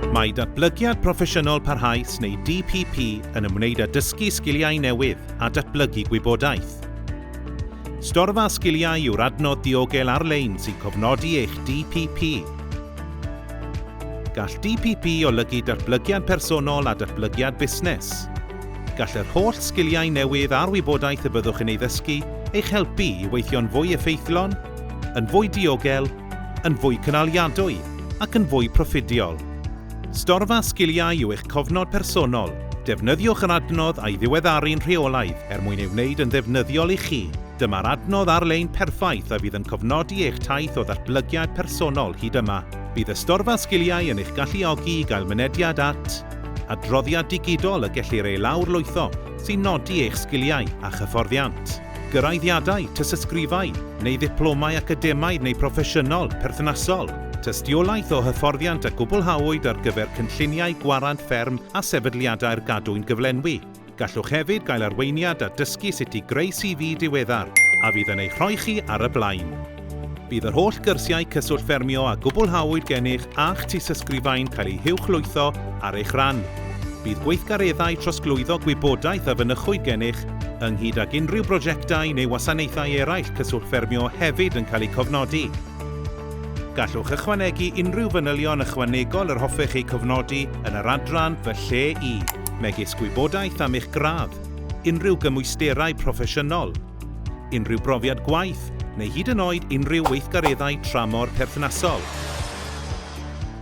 Mae Datblygiad Proffesiynol Parhaus neu DPP yn ymwneud â dysgu sgiliau newydd a datblygu gwybodaeth. Storfa Sgiliau yw'r adnodd diogel ar-lein sy'n cofnodi eich DPP. Gall DPP olygu datblygiad personol a datblygiad busnes. Gall yr holl sgiliau newydd a'r wybodaeth y byddwch yn ei ddysgu eich helpu i weithio'n fwy effeithlon, yn fwy diogel, yn fwy cynaliadwy ac yn fwy proffidiol. Storfa sgiliau yw eich cofnod personol, defnyddiwch yr adnodd a'i ddiweddaru'n rheolaidd er mwyn ei wneud yn ddefnyddiol i chi. Dyma'r adnodd ar-lein perffaith a fydd yn cofnodi eich taith o ddatblygiad personol hyd yma. Bydd y Storfa Sgiliau yn eich galluogi i gael mynediad at Adroddiad digidol y gellir ei lawrlwytho sy'n nodi eich sgiliau a chyfforddiant. Gyraeddiadau, tystysgrifau, neu ddiplomau academaidd neu broffesiynol, perthnasol. Tystiolaeth o hyfforddiant a gwblhawyd ar gyfer cynlluniau gwarant fferm a sefydliadau'r gadwyn gyflenwi. Gallwch hefyd gael arweiniad a dysgu sut i greu CV diweddar a fydd yn eich rhoi chi ar y blaen. Bydd yr holl gyrsiau Cyswllt Ffermio a gwblhawyd gennych a'ch tystysgrifau'n cael eu huwchlwytho ar eich rhan. Bydd gweithgareddau trosglwyddo gwybodaeth a fynychwyd gennych, ynghyd ag unrhyw brosiectau neu wasanaethau eraill Cyswllt Ffermio hefyd yn cael eu cofnodi. Gallwch ychwanegu unrhyw fanylion ychwanegol yr hoffech eu cofnodi yn yr adran Fy Lle i. megis gwybodaeth am eich gradd, unrhyw gymwysterau proffesiynol, unrhyw brofiad gwaith neu hyd yn oed unrhyw weithgareddau tramor perthnasol.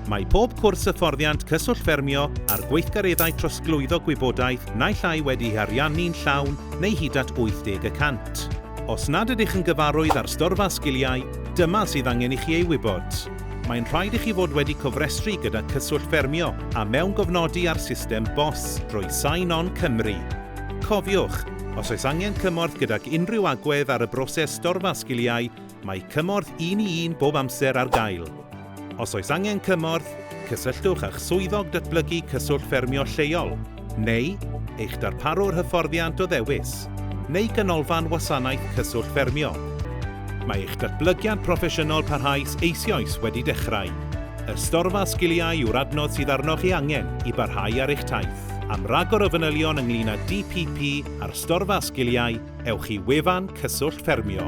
Mae pob cwrs hyfforddiant Cyswllt Ffermio a'r gweithgareddau trosglwyddo gwybodaeth naill ai wedi'i ariannu'n llawn neu hyd at 80 y cant. Os nad ydych yn gyfarwydd â'r storfa sgiliau, dyma sydd angen i chi ei wybod. Mae'n rhaid i chi fod wedi cofrestru gyda Cyswllt Ffermio a mewngofnodi ar system bos drwy Sign On Cymru. Cofiwch, os oes angen cymorth gydag unrhyw agwedd ar y broses storfa sgiliau, mae cymorth un-i-un bob amser ar gael. Os oes angen cymorth, cysylltwch â'ch Swyddog Datblygu Cyswllt Ffermio lleol. neu eich darparwr hyfforddiant o ddewis, neu ganolfan wasanaeth cyswllt ffermio. Mae eich datblygiad proffesiynol parhaus eisioes wedi dechrau. Y Storfa Sgiliau yw'r adnodd sydd arnoch ei angen i barhau ar eich taith. Am ragor o fanylion ynglŷn â DPP a'r Storfa Sgiliau, ewch i wefan Cyswllt Ffermio.